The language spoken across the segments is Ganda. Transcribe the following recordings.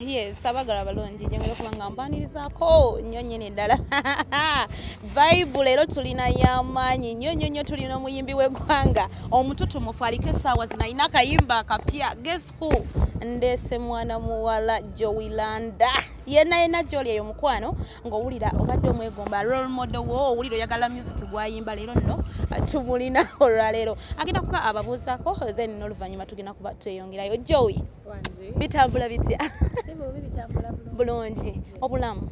Yes, abagala balungi njongera okuba nga mbanirizaako nnyo nnyini ddala vibe leero tulina y'amaanyi nnyo nnyo nnyo tulina omuyimbi w'eggwanga omututumufu aliko essaawa zino alina akayimba akapya guess who ndeese mwana muwala jowilanda yena yena gyoli eyo mukwano ng'owulira obadde omwegomba role model wo owulira oyagala music gwayimba leero nno tumulina olwaleero agenda kuba ababuuzaako then n'oluvannyuma tugenda kuba tweyongerayo jowi bitambula bitya bulungi obulamu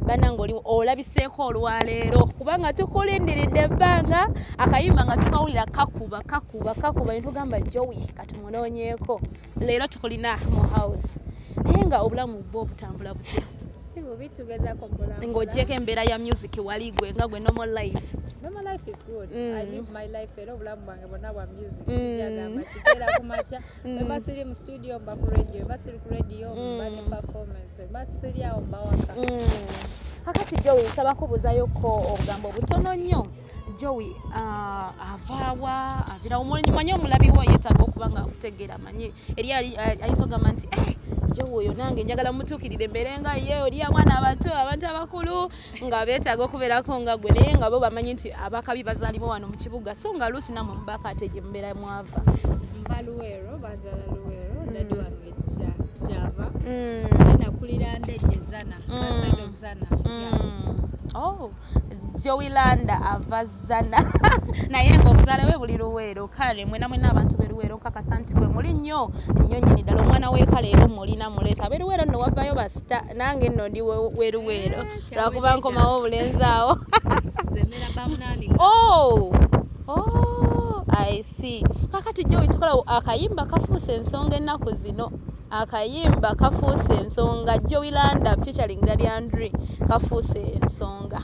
banange oli olabiseeko olwaleero kubanga tukulindiridde ebbanga akayimba nga tukawulira kakuba kakuba kakuba netugamba jowi katumunonyeeko leero tukulina mu house naye nga obulamu bwo obutambula butya ng'ogyeko embeera ya music wali gwe nga gwe normal life normal life is good mm. i live my life era obulamu bonna bwa music mm. sijagamba kigera ku makya mm. weba siri mu studio mba ku radio weba siri ku radio mm. mba ne performance weba siri awo mba waka kakati jowi nsaba kubuzayo ko obugambo butono nnyo jowi uh, avaawa avirawo manye omulabi wo yetaaga okuba nga akutegeera manye eri ayinza ogamba nti eh, jowi oyo nange njagala mutuukirire mbeere nga ye oli abaana abato abantu abakulu nga beetaaga okubeerako nga gwe naye nga bo bamanyi nti abakabi bazaalibwa wano mu kibuga so nga luusi namwe mubaka ate gye mubeera mwava mba luweero bazala luweero mm. dadi wange java mm. nakulira ndeje zana mm. outside of zana mm. yeah. oh jowilanda avaz zana naye nga omuzaala we buli luweero kale mwena mwena abantu beruweero nkakasa nti gwe muli nnyo nnyo nyini ddala omwana wekale era omulina muleesa aberuweero nno wavayo basita nange nno ndi weruweero eh, lwakuba nkomawo obulenzi awo oh! oh! i see kakati jjo wekikola akayimba kafuusa ensonga ennaku zino akayimba kafuuse ensonga joilanda featuring daliandre kafuuse ensonga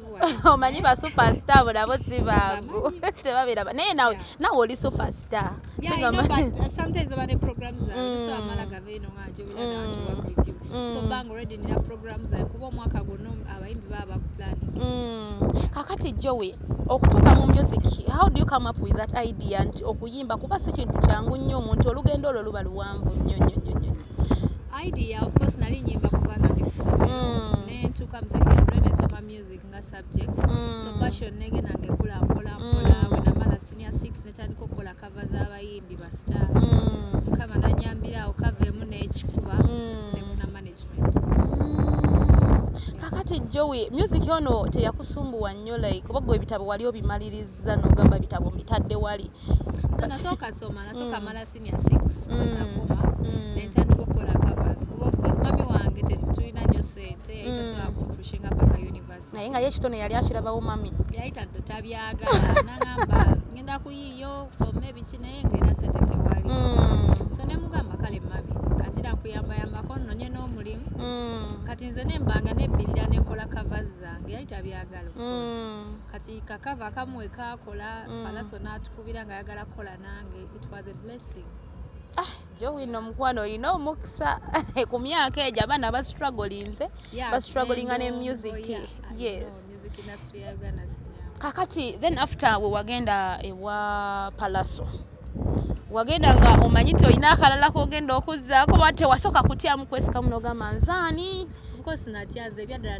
omanyi ba superstar abo nabo si bangu tebabeera naye nawe nawe oli superstar kakati jowe okutuuka mu music how do you come up with that idea nti okuyimba kuba si kintu kyangu nnyo omuntu olugendo olwo luba luwanvu nnyo nnyo nnyo idea of course nali nyimba kuva nga ndi kusomero mm. nentuuka mu secondary nesoma music nga subject mm. so passion nege nange kula mpola mpola mm. wenamala senior six netandika okukola kava z'abayimbi bastar mm. mukama nanyambira awo kava emu n'ekikuba mm. nefuna management mm. kakati jowi music ono teyakusumbuwa nnyo like oba gwe ebitabo wali obimaliriza nogamba bitabo mbitadde wali nasooka soma nasooka mm. mala senior 6 mm. nakoma mm. nentandika okukola covers kuba of course mami wange tetulina nyo sente yayita sobola kumpushinga paka university naye nga ye kitone yali akirabawo mami yayita tabyagala nangamba ngenda kuyiyo okusoma ebiki naye ngaera sente tewali so nemugamba kale mami katira nkuyambayambako nonye n'omulimu kati nze nembanga nebbirira nenkola covers zange yali tabyagala of course kati kakava akamu wekakola mm. palaso natukubira nga ayagala kukola nange it was a blessing ah, jowino omukwano olina omukisa ku myaka egyo abaana bastrugglinze yeah, bastrugglinga ne music yes kakati then after we wagenda ewa palaso wagenda nga omanyi ti olina akalala kogenda okuzzaako ba tewasooka kutyamu kwesikamu nogamba nzaani course natya nze ebyaddala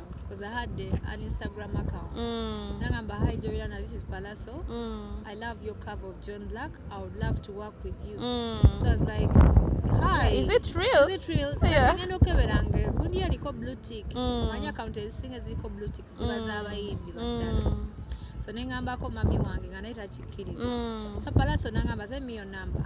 because I had the, an Instagram account. Mm. Nagamba, hi Joyana, this is Palaso. Mm. I love your cover of John Black. I would love to work with you. Mm. So I was like, hi. Is it real? Is it real? Yeah. Ngenda okeberanga gundi yaliko blue tick. Mm. Manya account ezisinga ziliko blue tick ziba mm. z'abayimbi baddala. Mm. So nengambako mami wange nga naye takikkiriza. Mm. So Palaso nangamba send me your number.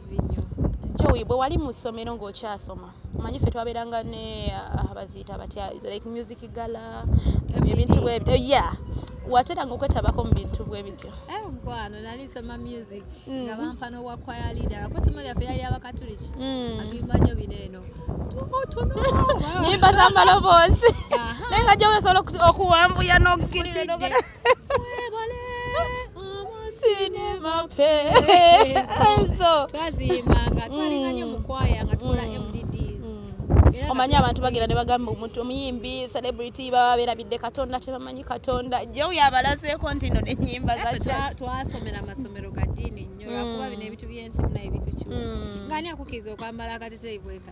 Joey, bwe wali mu ssomero ng'okyasoma manyi ffe twabeeranga ne ah, baziita batya like music gala ebintu bwebyo eh, ya wateranga okwetabako mu bintu bwe bityo eh, mukwano nali nsoma music mm. nga bampa n'obwa kwaya leader kuba somo lyaffe yali abakatuliki mm. atuyimba nnyo bino eno nyimba z'amaloboozi naye nga gyowesobola okuwambuya n'okukirira omanyi abantu bagenda ne bagamba omuntu omuyimbi celebrity baba berabidde katonda tebamanyi katonda jew yabalazeeko nti no nenyimba zatwasomera amasomero ga diini nnyo lwakuba bino ebintu byensi binaye bitukyusa ngani akukiriza okwambala akateteyi bweka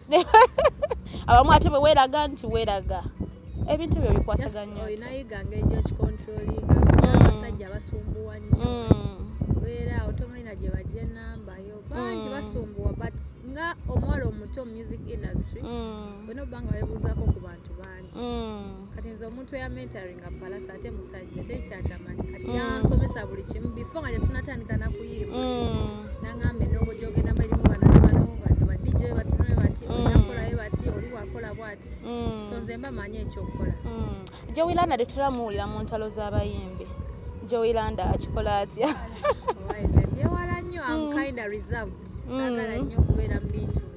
abamu ate bweweraga nti weraga ebintu ebyo bikwasaganyooinayigangegyokikontrolingaabasajja mm. basumbuwa nyo mm. beera otomulina gye bajja enamba yo bangi mm. basumbuwa but nga omuwala omuto mu music industry olina obanga webuuzako ku bantu bangi bangi mm. kati nze omuntu eya mentaringa palasa ate musajja tekyatamanyi kati mm. yansomesa buli kimu bifo nga tetunatandika nakuyimba mm. nangamba enongo gyogenda balimu bano bano bano badj batune bati oyakolayo bati oli wakola bwati so nze mba manyi ekyokukola jowilanda tetulamuwulira mu ntalo z'abayimbi jowilanda akikola atya byewala nnyo am kinda reserved sagala nnyo okubeera mu bintu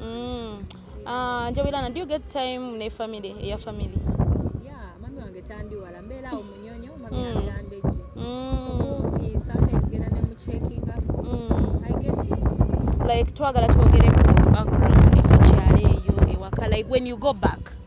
mm. ah, njobirana do you get time ne family eya family yeah, mami wange tandiwala mbeera awo munyonyo mami mm. aberandeji mm. so kumpi sometimes genda ne muchecking up mm. i get it like twagala twogereko background mukyalo eyo ewaka like when you go back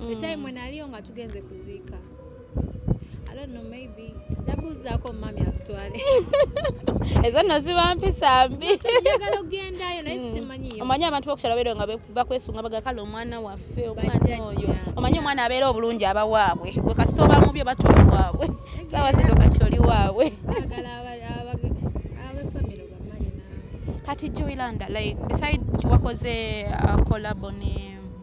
mm. the time when aliyo nga tugenze kuziika I don't know maybe ndabuuzaako mummy atutwale ezo nno ziba mpisa mbi njagala okugendayo naye mm. simanyiyo omanyi abantu bokukyalo beero nga bakwesunga baga kale omwana waffe omwana oyo omanyi omwana abeera obulungi aba waabwe gwe kasita oba mubi oba toli waabwe saawa zino kati oli waabwe kati joylanda like beside nti wakoze uh, collabo ne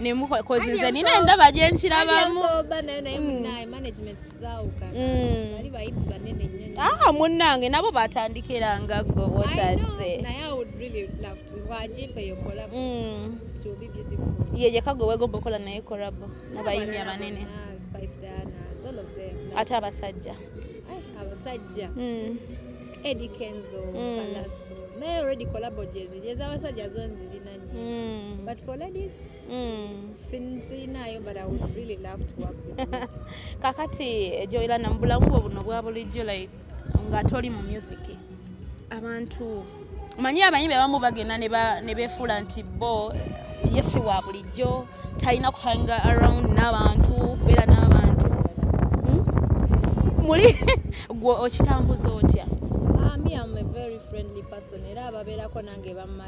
nemukola kozi nze nina endaba gye nkirabamu ah, munnange nabo batandikiranga gwe wotanze mm. yeyeka gwe wegomba okola naye korabo mubayimbi abanene ate abasajja abasajja mm. Eddie Kenzo mm. Palaso naye already collabo gyeziri ez'abasajja zo nzirina Mm. But for ladies, mm. sinzinayo but I would really love to work with you. Kakati eh, Joyla na mbulamu bwo buno bwa bulijjo like nga toli mu music. Abantu manyi abayimbi abamu bagenda ne befuula nti bo eh, yesi wa bulijjo talina kuhanga around n'abantu kubeera n'abantu hmm? muli gwe okitambuza otya? Ah, me am a very friendly person era ababeerako nange bamma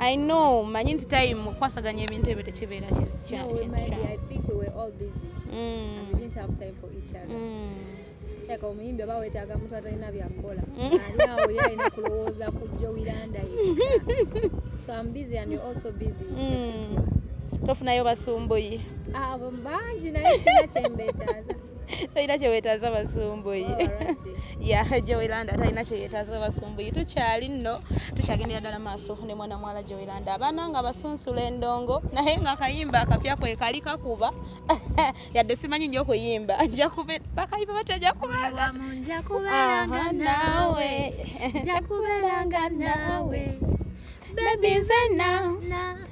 I know manyi nti time mukwasaganya ebintu ebyo tekibeera kyaka omuyimbi oba wetaaga muntu atalina byakukola mm. alinawo ye alina kulowooza ku jowiranda ye so am busy and you also busy mm. tofunayo basumbuyi abo ah, bangi naye sina kyembeetaaza talina kyewetaaza basumbuyi ya jowelanda talina kyeyetaaza basumbuyi tukyali nno tukyagendera ddala maaso ne mwana mwala jowelanda abaana nga basunsula endongo naye nga akayimba akapya kwe kali kakuba yadde simanyi nyo okuyimba njakubakayimba batya njakubeeranga nawe njakubeeranga nawe bebi nzena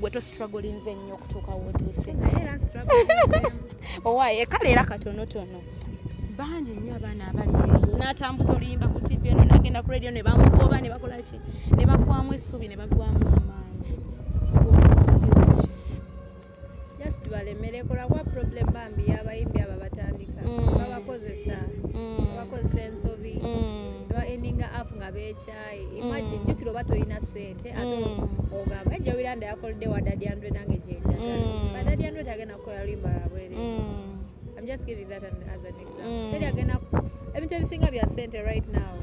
gwe to strugglinze nnyo okutuuka wotuuse owaye kale era katonotono bangi nnyo abaana abali n'atambuza oluyimba ku tv eno nagenda ku radio ne bamugoba ne bakola ki ne bagwamu essuubi ne bagwamu amaanyi just balemere kolakuba problem bambi yabayimbi abo batandika mm. babakozesa mm. babakozesa ensobi mm. baendinga app nga beekya imagine mm. jukira oba tolina sente ate mm. ogamba ejja obiranda yakolede wa dadi andre nange gyenjagala mm. badadi andre tagenda kukola limba lwabwere I'm just giving that an, as an example. Mm. Teri agenda ebintu ebisinga bya sente right now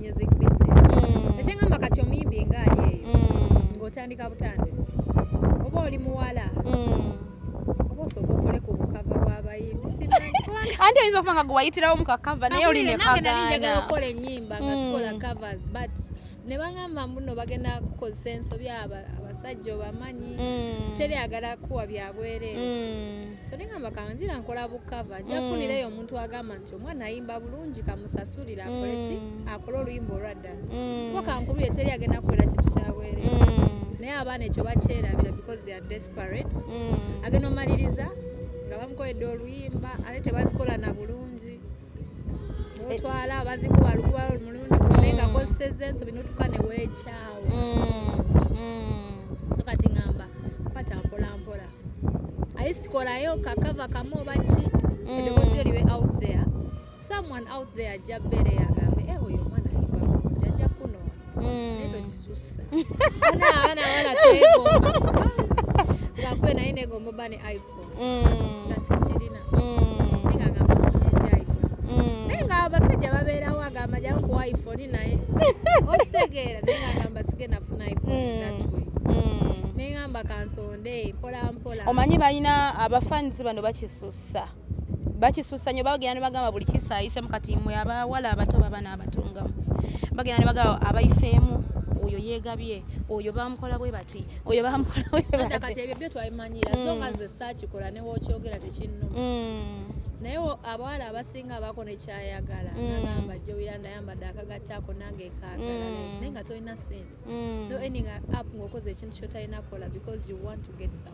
music business. Mm. Ekyengamba kati omuyimbi nga ali eyo mm. ng'otandika butandisi oba oli muwala mm. anti oyinza okuba nga gwewayitirawo mukakava naye oli nekagaanaokola enyimba nga sikola mm. covers but ne bagamba mbuno bagenda kukozesa ensobi abasajja obamanyi mm. teri agala kuwa byabwereere mm. so nengamba kanjira nkola bukava njafunireyo omuntu agamba nti omwana ayimba bulungi kamusasulire akoleki akole oluyimba olwa mm. kuba kankulu ye teri agenda kukola kintu kyabwere mm. naye abaana ekyo bakyerabira because they are desperate mm. agenda omaliriza nga bamukoledde oluyimba ate tebazikola na bulungi eh. otwala bazikuba lukuba omulundi gume nga koseza ensobi notuka newekyawo so kati ngamba kwata mpolampola ayisi kolayo kakava kamu obaki eddoboozi yo libe out there someone out there ajja bere agambe eh oyo mwana ayimba jaja kuno mm. neto kisusa ana ana ana tego tukakwe na ine gombo bani iphone mm. na sijirina mm. ninga gamba kufunye ti iphone mm. ninga abasajja babera wa gamba jangu ku iphone naye okitegera ninga gamba sige nafuna iphone mm. that way mm. ninga mba kansonde mpola mpola omanyi balina abafanizi bano bakisusa bakisusa nyo bagenda ne bagamba buli kisayise mukati mwe abawala abato baba n'abatunga bagenda ne bagamba abayiseemu oyo yegabye oyo bamukola bwe bati oyo bamukola bwe bati kati ebyo byo twabimanyira mm. songa ze saakikola ne wokyogera tekinnuma mm. naye abawala abasinga abako nekyayagala mm. nagamba jowira ndayambadde akagattaako nange kaagala naye nga tolina sente no ending up ngaokoze ekintu kyotalina kukola because you want to get some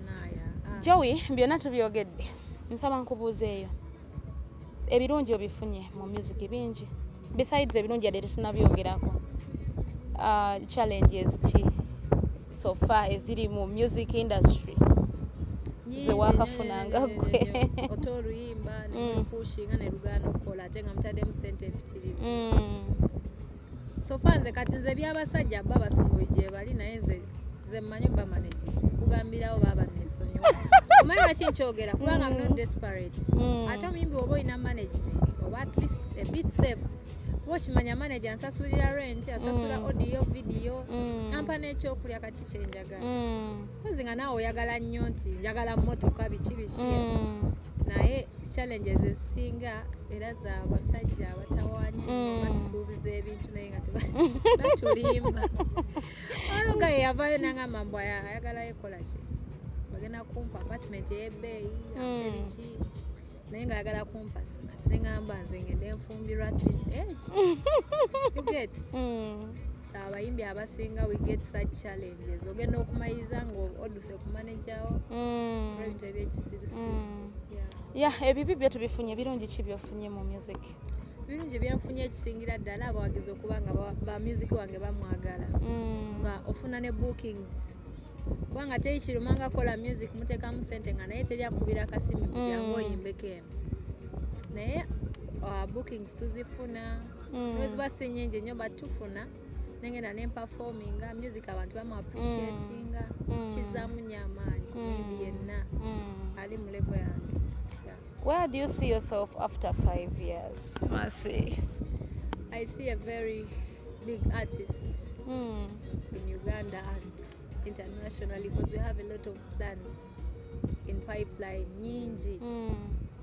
Joey byonna tubyogedde nsaba nkubuuzeeyo ebirungi obifunye mu music bingi besides ebirungi yadde tetunabyogerako uh, challenges ki so far eziri mu music industry zewakafunanga gwe ote oluyimba mm. nekushinga nelugaana okukola ate nga mutaddemu sente empitirivu mm. sofa nze kati nze byabasajja bba basumbuyi gyebali naye nze nze mmanyi obba managi kugambirawo baaba nesonyi omanyi lwaki nkyogera kubanga mm. not desperate mm. ate omuyimbi oba olina management oba at least a bit safe kuba okimanya manager ansasulira rent asasula mm. audio video ampa nekyokulya kati kyenjagala kozi nga naawe oyagala nnyo nti njagala motoka biki biki naye challenges ezisinga era za basajja abatawanya mm. batusuubiza ebintu naye nga batulimba oyo nga yeyavayo nangamba mbu ayagala yekola ki bagenda kumpa apartment eyebeeyi mm. ebiki naye nga ayagala kumpasa kati nengamba nze ngende nfumbirwa at this age you get mm. abayimbi abasinga we get such challenges ogenda okumaliriza nga oduse ku manajawo mm. ebintu ebyekisirusi mm. ya ebibi byo tubifunye birungi ki byofunye mu music birungi byenfunye ekisingira ddala abawagizi okuba nga ba music wange bamwagala mm. nga ofuna ne bookings kubanga teri kiruma nga kola music muteekamu sente nga naye teri akubira akasimu kujangu oyimbeko eno naye uh, bookings tuzifuna mm. neweziba si nyingi nnyo but tufuna nengenda nempafominga music abantu bamu appreciatinga mm. mm. kizamu nyo amaanyi kumimbi mm. yenna mm. ali mu levo yange yeah. where do you see yourself after five years Mercy. i see a very big artist mm. in uganda and internationally because we have a lot of plans in pipeline nyingi mm.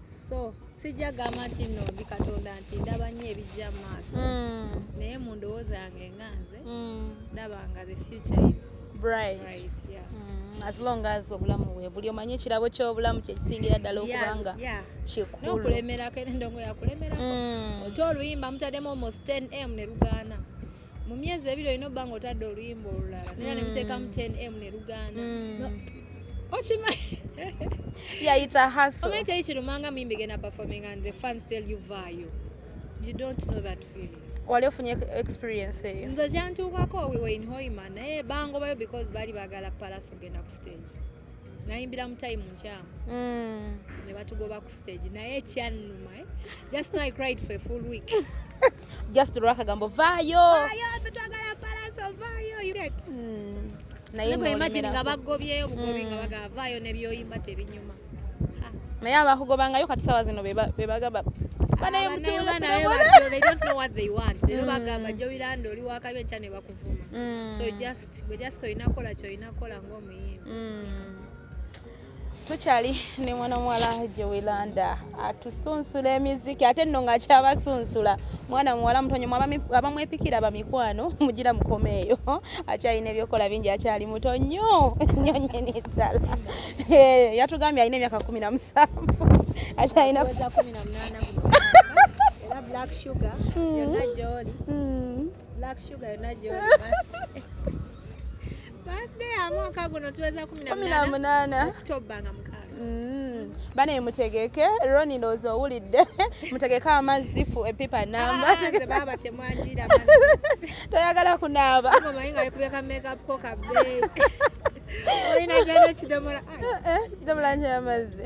so sijja gamba nti no ndi katonda nti ndaba nnyo ebijja mu maaso mm. naye mu ndowooza yange nga nze mm. ndaba nga the future is bright, bright yeah. mm. as long as obulamu bwe buli omanye ekirabo ky'obulamu kyekisingira ddala okubanga kikulu nokulemerako endongo yakulemerako mm. ote oluyimba mutaddemu almost 10 m ne lugaana mu myezi ebiri olina obba nga otadde oluyimba olulala nera mm. nemuteekamu 10 m ne lugaana mm. okimanyi yayita hasomanyi teri kirumanga muyimbi genda performing and the fans tell you vayo you don't know that feeling wali ofunye experience eyo nze kyantuukako we were in hoima naye bangobayo because baali baagala palace ogenda ku stage nayimbira mu time nkyamu mm. ne batugoba ku stage naye kyannuma eh? just now i cried for a full week just lwa kagambo vaayo hmm. naye abakugobangayo kati sawa zino bebagaba banaye mutulebagamba jobiranda oli wakabi enkya ne bakuvuma hmm. so just gwe just olina kola kyolina kola ngaomuyimbi hmm. tukyali ne mwana muwala gyewelanda atusunsula emiziki ate nno ng'akyabasunsula mwana muwala mutonyomu abamwepikira bamikwano mugira mukomeeyo akyalina ebyokola bingi akyali muto nnyo nnyo nyini ddala eh, yatugambye alina emyaka kumi na musanvu akyalina Black sugar, mm. you're not jolly. Mm. Black sugar, you're not jolly. Birthday ya mwaka guno tuweza 18 Oktoba nga mukaaga. Mm. Bane mutegeke Roni ndozo owulidde mutegeke amazzi fu epipa namba ah, nze baba temwajira amazzi toyagala kunaaba ngo mayinga yekubeka makeup ko kabe Olina jana kidomola eh, eh, kidomola nje amazzi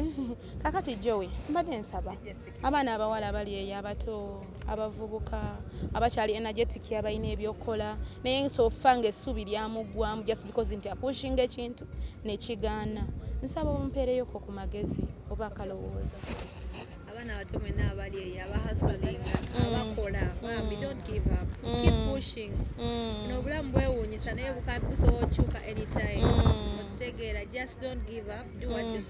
kakati Joey mbadde nsaba yes. abaana abawala abali eyo abato abavubuka abakyali energetic abalina ebyokukola naye nsofa nga essuubi lyamuggwamu just because nti apushinga ekintu nekigaana nsaba omumpeereyoko ku magezi oba akalowooza abaana abato mwena abali eyo abahasolinga mm. abakola bambi mm. don't give up mm. keep pushing nobulamu bwewuunyisa naye busobola okyuka anytime okitegeera just don't give up do what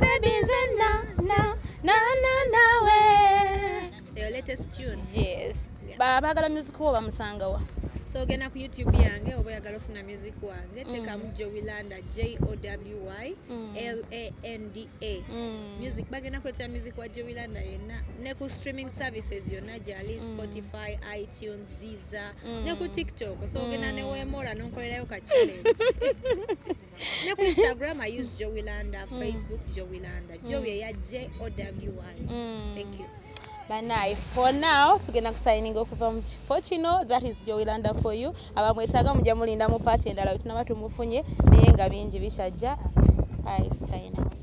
Baby nze na na na na nawe. Your latest tune. Yes. Yeah. Ba bagala music wo bamusanga wa. So ogenda ku YouTube yange oba oyagala ofuna music wange mm. tekamu Jowilanda J O W Y mm. L A N D A. Mm. Music bagenda kuleetera music wa Jowilanda yenna ne ku streaming services yonna gyali mm. Spotify, iTunes, Deezer mm. ne ku TikTok. So ogenda mm. ne weemoola n'onkolerayo ka challenge. ne ku instagram i use joey landa mm. facebook joey landa mm. joey eya j o w y mm. thank you banaye for now tugenda kusayininga okuva mu kifo kino that is joey landa for you abamwetaaga mujja mulinda mu paati endala wetunaba tumufunye naye nga bingi bikyajja i sign out